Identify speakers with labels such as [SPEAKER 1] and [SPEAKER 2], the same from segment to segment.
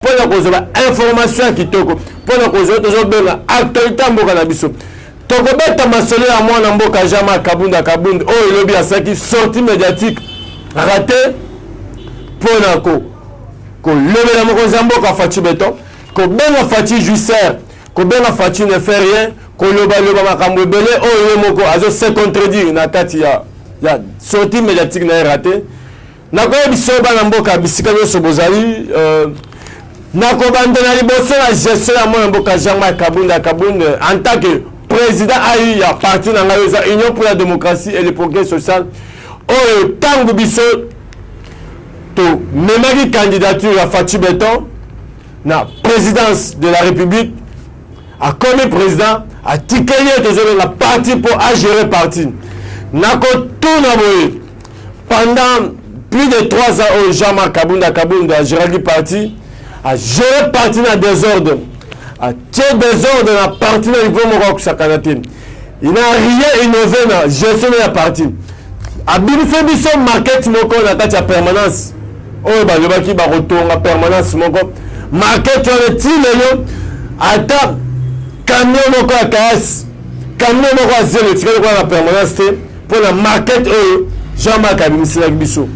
[SPEAKER 1] mpo na kozwa bainformation ya kitoko mpo na kozwa tozobenga actualité ya mboka na biso tokobeta masolo ya mwana mboka jama kabunda kabund oyo elobi asaki sortie médiatique rate mpo na ko kolobela mokonzi ya mboka faci beton kobenga faci juicer kobenga faci ne fait rien kolobaloba makambo ebele oyo ye moko azo se contredire na kati ya, ya sortie médiatique na ye rate nakoyebisa yo bana mboka bisika nyonso bozali euh, nakobanda na liboso na gestion ya mwana mboka jean marc kabunda kabund en tant que président ai ya parti na ngai eza union pour la démocratie et le progrès social oyo ntango biso tomemaki candidature ya faci beton na présidence de la république akomi président atikeli ye tozobenga parti mpo agere parti nakotuna boye Pendant plus de 3 ans oyo oh, Jean-Marc Kabunda Kabunda agéraki parti, a géré parti na désordre, a tie désordre na parti na niveau moko akusakana te. Il n'a rien innové na gestion ya parti. Abimisi biso market moko na kati ya permanence oyo balobaki bakotonga permanence moko market wana ti lelo ata camion moko ya kaasi camion moko ya zelo etikali kuna na permanence te mpo na market oyo jean mark abimiselaki biso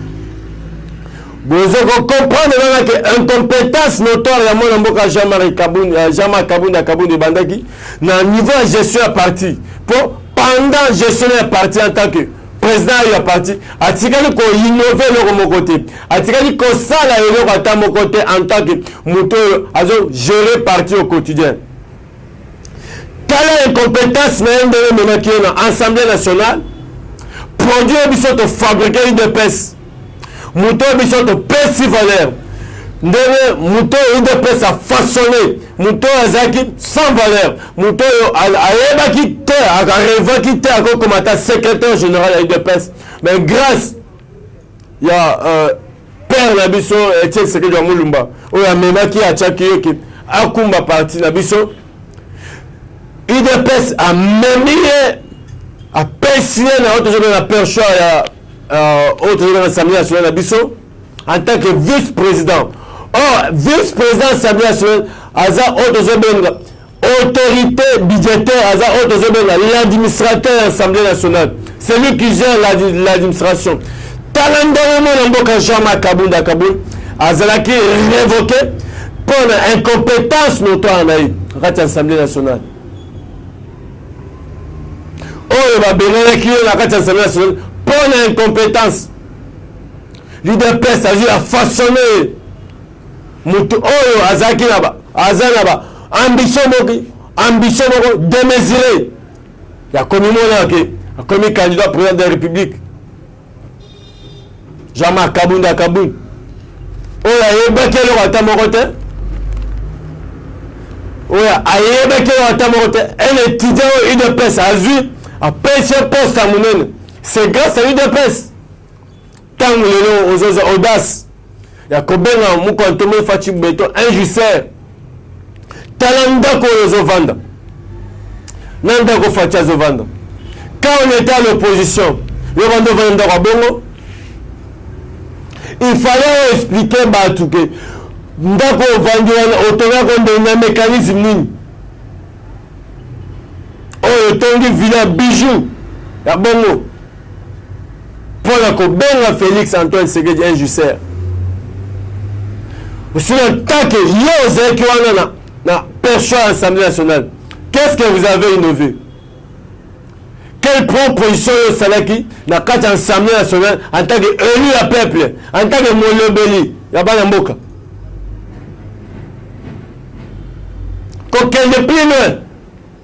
[SPEAKER 1] bozo kocomprendre nana ke incompétence notoire ya mwana mboka jean mark kabund euh, jean mark kabund ya kabund ebandaki na niveau ya gestion ya parti mpo pendant gestion ya parti en tant que président ya parti atikali koinnove eloko moko te atikali kosala eloko ata moko te en tant que moto oyo azogere parti au quotidien tala incompetence na ye ndenge ememaki ye na assemblée nationale produit oyo biso tofabrike udps moto oyo biso topesi valeur ndenge moto oyo udps afaçonne moto oyo azalaki sans valeur moto oyo ayebaki te arevaki te akokoma ata secrétaire général ya udps mais grâce ya euh, père na biso Etienne Tshisekedi wa Mulumba oyo amemaki atiaki ye ke akumba parti na biso udps amemi ye apesi ye na oyo tozobela na perchoir ya euh, oyo tozobela na assemblée nationale na biso en tant que vice président or vice président assemblée nationale aza oyo tozobenga Autorite budgetaire aza oyo tozobenga l'administrateur ya assemblée nationale celui qui gère l'administration tala ndenge mwana mboka jean marc kabunda kabul azalaki révoqué mpo na incompétence notoire na ye na kati ya assemblée nationale oyo babenganaki ye na kati ya assemblée nationale mpo na incompétence leader pes azwi ya façonne ye moto oyo azalaki na ba aza na ba ambition moko ambition moko demesire ya komimona ke akomi candidat président de la république jean-marc kabunda kabund oyo ayebaki eloko ata moko te oyo ayebaki eloko ata moko te un étudiant oyo udps azwi apesi poste ya monene c'est grâce à udps Tango lelo ozoza audace ya kobenga mukantomo faci beton injuster tala ndako oyo ozovanda na ndako faci azovanda ka on est à l'opposition yo banda ovanda ndako ya bongo il fallait expliquer bato ke ndako ovandi wana otongako nde na mécanisme nini oyo otongi villa bijou ya bongo mpo na kobenga Felix Antoine Tshisekedi un jusser osili en tant que yo ozalaki wana na, na perchoir ya assemblée nationale qu'est ce que vous avez innové quelle proposition oyo osalaki na kati ya assemblée nationale en tant que élu ya peuple en tant que molobeli ya bana mboka kokende plus loin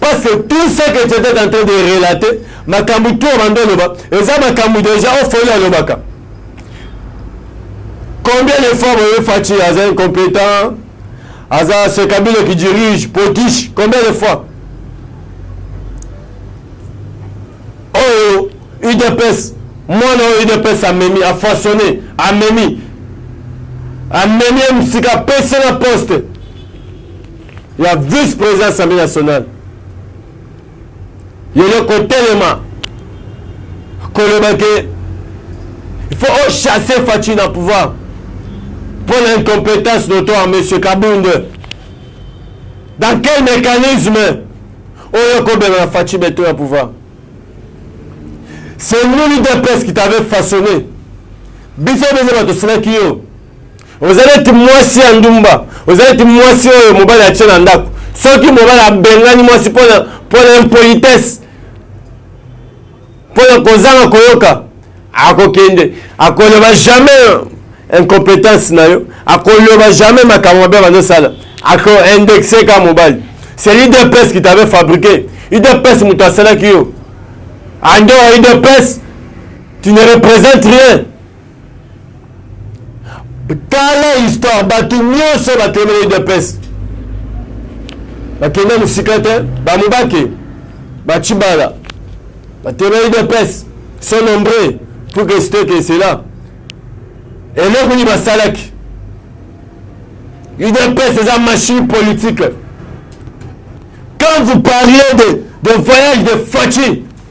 [SPEAKER 1] Parce que tout ce que tu étais en train de relater, makambo tout obanda oloba, eza makambo déjà ofoli alobaka. Combien de fois boye Fatshi aza incompétent, aza ce Kabila qui dirige, potiche, combien de fois? Oyo UDPS, mwana oyo UDPS amemi, a façonné, amemi, amemi msika apesi na poste ya vice president assemblée nationale yele kotelema koloba ke il faut ochasser faci na pouvoir mpo na incompétence notoire monsieur kabunde dans quel mécanisme oyo kobema na faci beto ya pouvoir c'est nous l'udps qui t'avait façonné biso biso bato osilaki yo oza neti mwasi ya ndumba oza neti mwasi oyo mobali atye na ndako soki mobali abengani mwasi mpona mpona impolitesse mpona kozanga koyoka akokende akoloba jamais incompétence na yo akoloba jamais makambo mabe bazosala akoindexe ka mobali c'est l'idps qui t'avait fabriqué idps moto asalaki yo andora idps tu ne représente rien tala histoire bato nyonso bakende na udps bakende mosika te bamobake bacibala bakende na udps sont nombreux pour que cete que cela eloko nini basalaki udps eza machine politique quand vous parlez de, de voyage de faci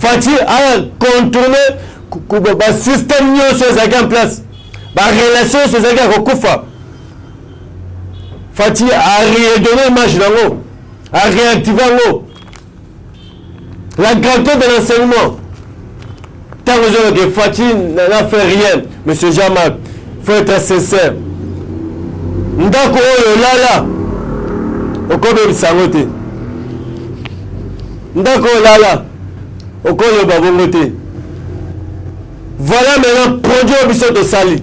[SPEAKER 1] Fatshi a contourné ba système nyonso ezalaki en place ba relation nyonso ezalaki ya kokufa Fatshi a redonné image nango a réactiver yango la grandeur de l'enseignement Tango je que Fatshi n'a fait rien, Monsieur Jean-Marc, faut être sincère. Ndako oyo lala, okobebisa yango te. Ndako oyo lala, okoloba bongo te. Voilà maintenant produit oyo biso tosali.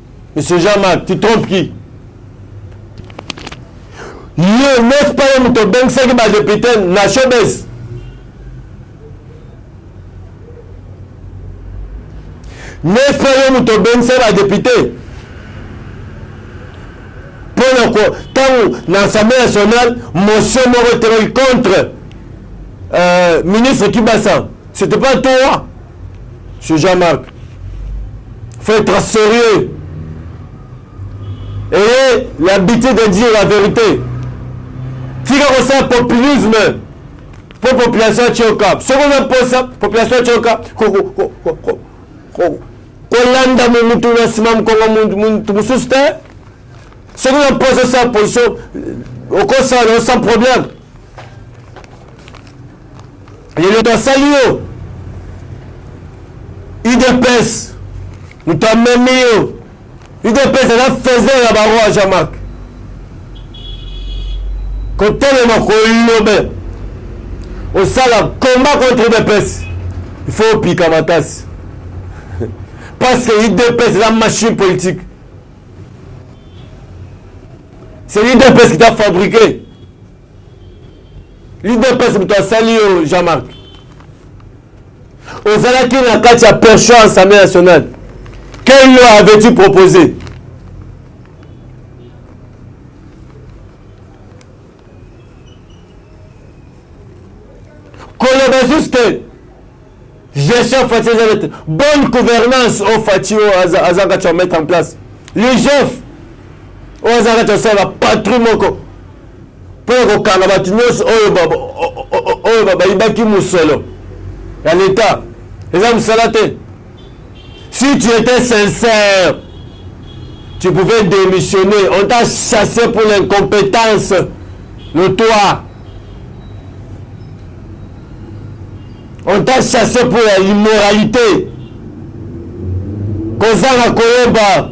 [SPEAKER 1] Monsieur Jean-Marc, tu trompes qui Yo, n'est-ce pas yo moto obengisaki badepute na showbase n'est-ce pas yo moto obengisaki badepute mpo na ko ntango na assemblée nationale motion moko etelaki contre euh, ministre kibasa c'était pas toi ce jean marc faut être sérieux ayez l'habitude de dire la vérité tika kosala populisme mpo population atyoka soki oza mposa population atyoka kolanda motu na nsima mokongo motu mosusu te soki oza mposa osala position okosala na yo sans problème lelo basali yo udps moto amemi yo udps aza faiseur ya baro ya jean marc kotelema kolobe osala combat contre udps il faut opika makasi parce que udps eza machine politique c'est l'udps qui t'a fabriqué lidepese moto asali yo jean marc ozalaki na kati ya pension assemblée nationale quelle loi avais-tu proposé koloba juste gestion fati eza nete bonne gouvernance oyo oh, fati oyo oh, aza kati ya mettre en place ligef oyo oh, aza kati ya sala patrie moko mpo ya kokanga bato nyonso oyo bayibaki mosolo ya leta eza mosala te si tu étais sincère tu pouvais démissionner on t'a chassé pour l'incompétence le toit On t'a chassé pour ya immoralité kozanga koyeba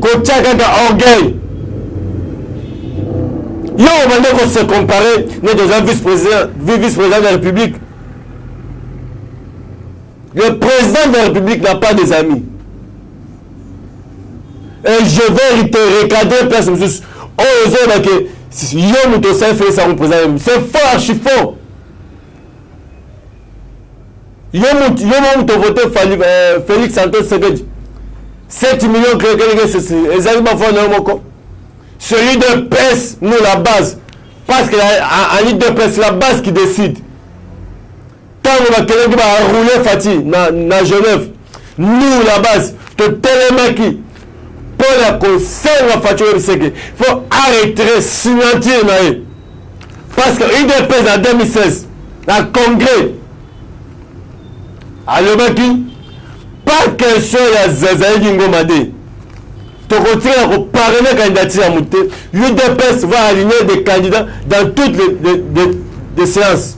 [SPEAKER 1] kotya kaka orgueil yo obande kose compare neti oza vice président vice président de la république le président de la république n'a pas des amis et je vais te recadrer place mosusu oyo ozoloba ke yo moto osali felix yango président c'est faux archi faux yo mo moto ovote euh, félix anto sekedi 7 millions keleke sesi ezali bafoi na yo moko celui de pes nous la base parce que en idps la base qui décide ntango bakendaki ba roule fati na, na genève nous la base totelemaki mpo na kosenga fati oyebiseke fo arretire signature na ye parce que udps na 2016 na congrès alobaki pas question ya zazalaki ngoma te tokotikala koparene candidature ya moto te udps va aligner des candidats dans toutes les, les, les, les séances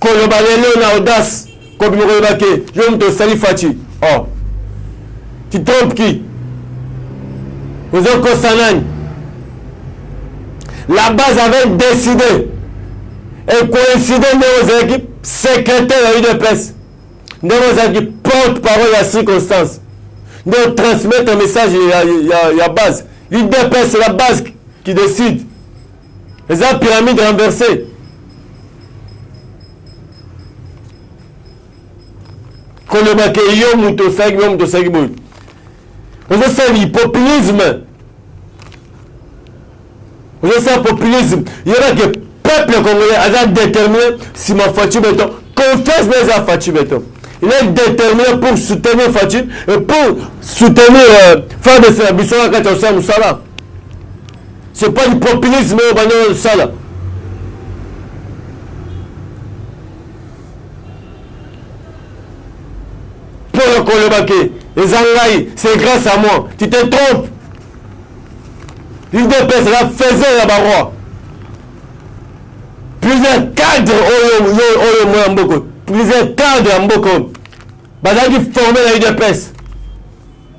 [SPEAKER 1] koloba lelo na audace kobima koloba ke yo moto osali faci o oh. titrompe ki ozokosa nani la base avait décidé et coïncide ndenge ozalaki secrétaire ya udps ndenge ozalaki porte parole ya circonstance nde otransmettre message ya, ya, ya base udps la base qui décide eza pyramide renverse koloba ke yo moto osalaki yo moto osalaki boye ozosala hypopulisme ozosala populisme yeba ke peuple congolais aza déterminé nsima faci beton confiance na eza faci beton il est déterminé pour soutenir faci et pour soutenir euh, fardc na biso na kati ya kosala mosala C'est pas du populisme oyo banda osala. Mpo ya koloba ke eza ngai, c'est grâce à moi. Tu te trompes. L'UDPS la faisait ya baroi. Plusieurs cadres oyo oyo oyo mwa mboko, plusieurs cadres ya mboko bazalaki former la UDPS.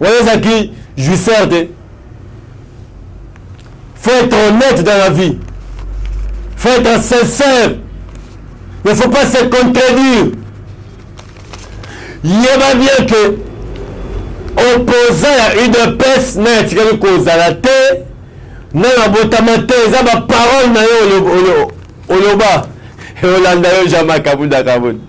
[SPEAKER 1] oyo ezalaki jouisseur te faut être honnête dans la vie faut être sincère ne faut pas se contredire yeba bien que opposant ya udps naye atikaki kozala te na nabotama te eza baparole na yo oloba olanda yo jean makabunda kabunda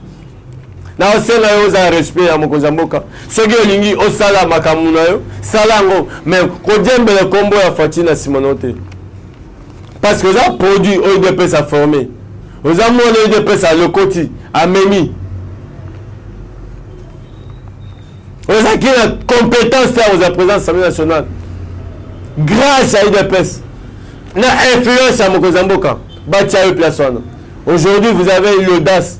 [SPEAKER 1] naosenga yo ozala respect ya mokonzi ya mboka soki olingi osala makambo na yo sala yango me kodiembela nkombo ya fati na nsima nao te parce que oza produit oyo udps aforme oza mwana udps alokoti amemi ozalaki na compétence te akozala président assemblée nationale grâce ya udps na influence ya mokonzi ya mboka batya yo place wana aujourd'hui vous avez l'audace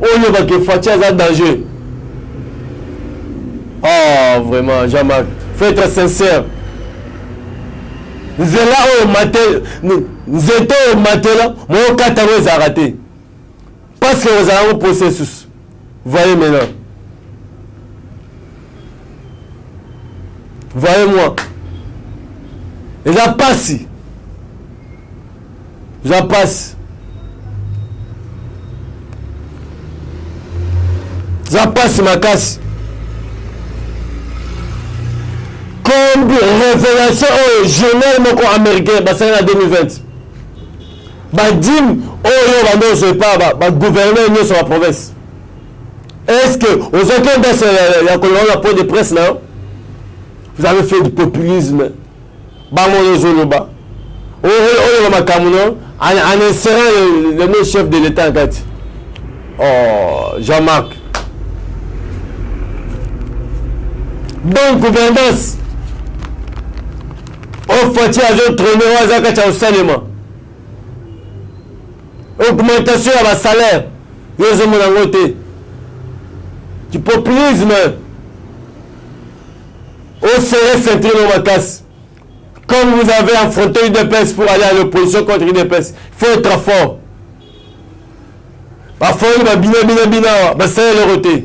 [SPEAKER 1] oyeba ke faci aza danger ah vraiment jean marc faut être sincère nzela oyo mate nzete oyo matela mookata yango ezalaka te parce que ozala yango processus Voyez maintenant. Voyez-moi. Eza pasi. Eza pasi. Eza pasi makasi. Comme révélation au journal moko américain basali na 2020. badime oyo banda ozwa epa bagouverneur nyonso ya province est ce que ozwaki endasi ya koloba na point de presse na yo vous avez fait du populisme bango oyo ozoloba oyeba makambo no en insérant le mot chef de l'état kati oh, jean marc donc gouvernance Oyo Fatshi azo trone oyo aza kati ya kosalema augmentation ya basalaire yo ozomona yango te kipopulisme osere centre no makasi comme vous avez affronté udps pour aller à l'opposition contre udps faut être fort bafoli babina bina bina awa basala eloko te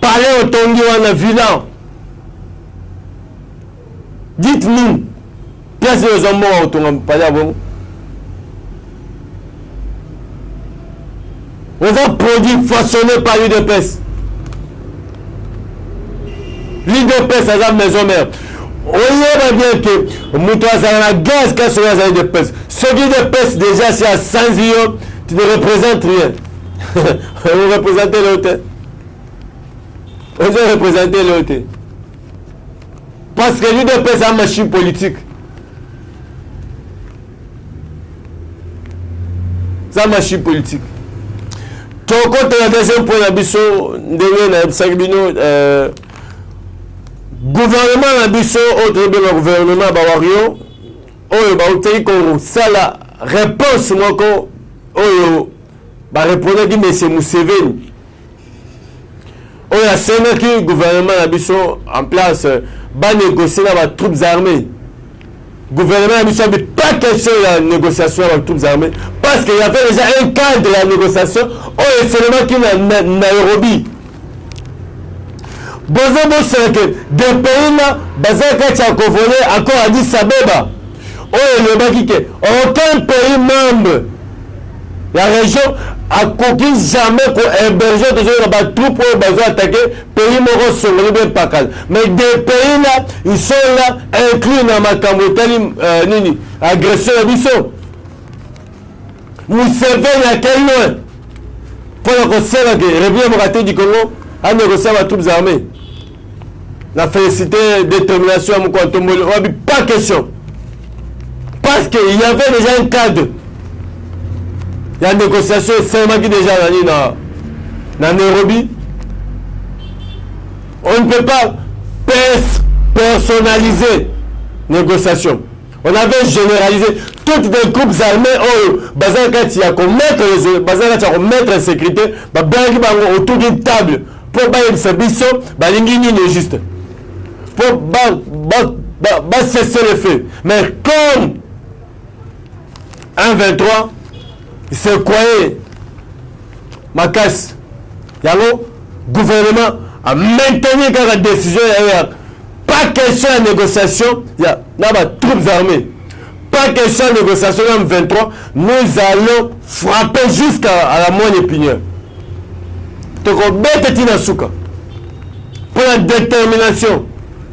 [SPEAKER 1] Palais otongi wana villa dites nous place oyo eza mbongo kotonga palais ya bongo oza produit façonné par udps l'udps aza maison mère oyeba bien ke moto azala na gaz kasi oyo azali de pese soki de pese déjà si asanzi yo tu ne représente rien o represente leo te ozo represente leo te parce que l'udps a machine politique za machine politique tokota na deuxième point na biso ndenge nayebisaki bino euh, gouvernement na biso oyo tozobenga gouvernement ya bawario oyo bautaki kosala reponse moko oyo barepondaki mese museveni oyo asengaki gouvernement na biso en place banegocie na batroupes armées gouvernement na biso abi pas question ya négociation ya batroupes armées parce que y avait déjà un cadre ya négociation oyo eselemaki na nairobi boza bosala ke de pays na baza kati ya kovole accord ya addis abeba oyo elobaki ke aucun pays membre ya région akoki jamais kohéberge tozoyeba batroupe oyo bazo atake pays moko songoli be pakala mais de pays na isola inclus na makambo etali euh, nini agression ya biso museveni ake loin mpo na kosenga ke république démocratique du congo ande kosala ba troupes armées na félicité détermination ya moko ya ntomboli oyabi pas question parce que il y avait déjà un cadre ya négociation esalemaki déjà na nini na, na nairobi on ne peut pas pers personnaliser négociation on avait généralisé toutes les groupes armés oyo baza na kati ya komettre baza na kati ya komettre insécurité babengaki bango autour d'une table mpo bayebisa biso balingi nini juste mpo basese le fait mais comme 1 23 sequoie makasi yango gouvernement a maintenir kaka décision ya ya pas question ya négociation ya na ba troupes armées pas question ya négociation na 23 nous allons frapper jusqu'à la moine épinière tokobete ti na suka mpo na détermination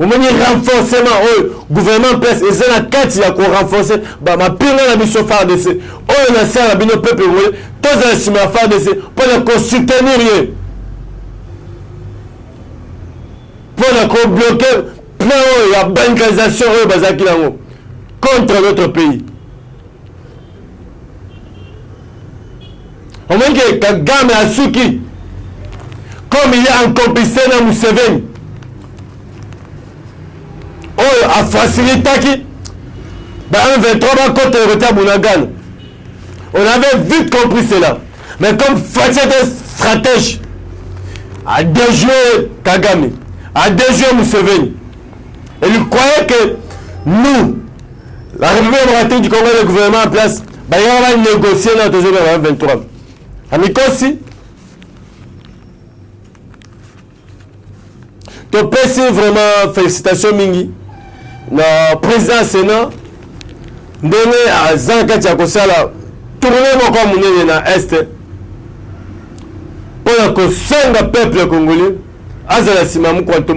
[SPEAKER 1] omoni renforcement oyo gouvernement presse eza na kati ya korenforce mapinga na biso fardc oyo na sala na bino peuple congolais tozala nsima ya fardc mpo na kosoutenir ye mpo na kobloke plan oyo ya bancarisation oyo bazalaki nango contre notre pays omoni ke kagame asuki comme il est en complicité na museveni oyo afacilitaki ba M23 bakota ekoti ya bunagana on avait vite compris cela mais comme Fatshi était stratège a déjoué Kagame a déjoué Museveni Et il croyait que nous, la République démocratique du Congo, le gouvernement en place, bah, il va négocier notre jour 23. Amikosi, topesi vraiment félicitation mingi na président ya sénat ndenge aza na kati ya kosala tourne moko ya monene na este mpo na kosenga peuple congolais azala nsima mokwanto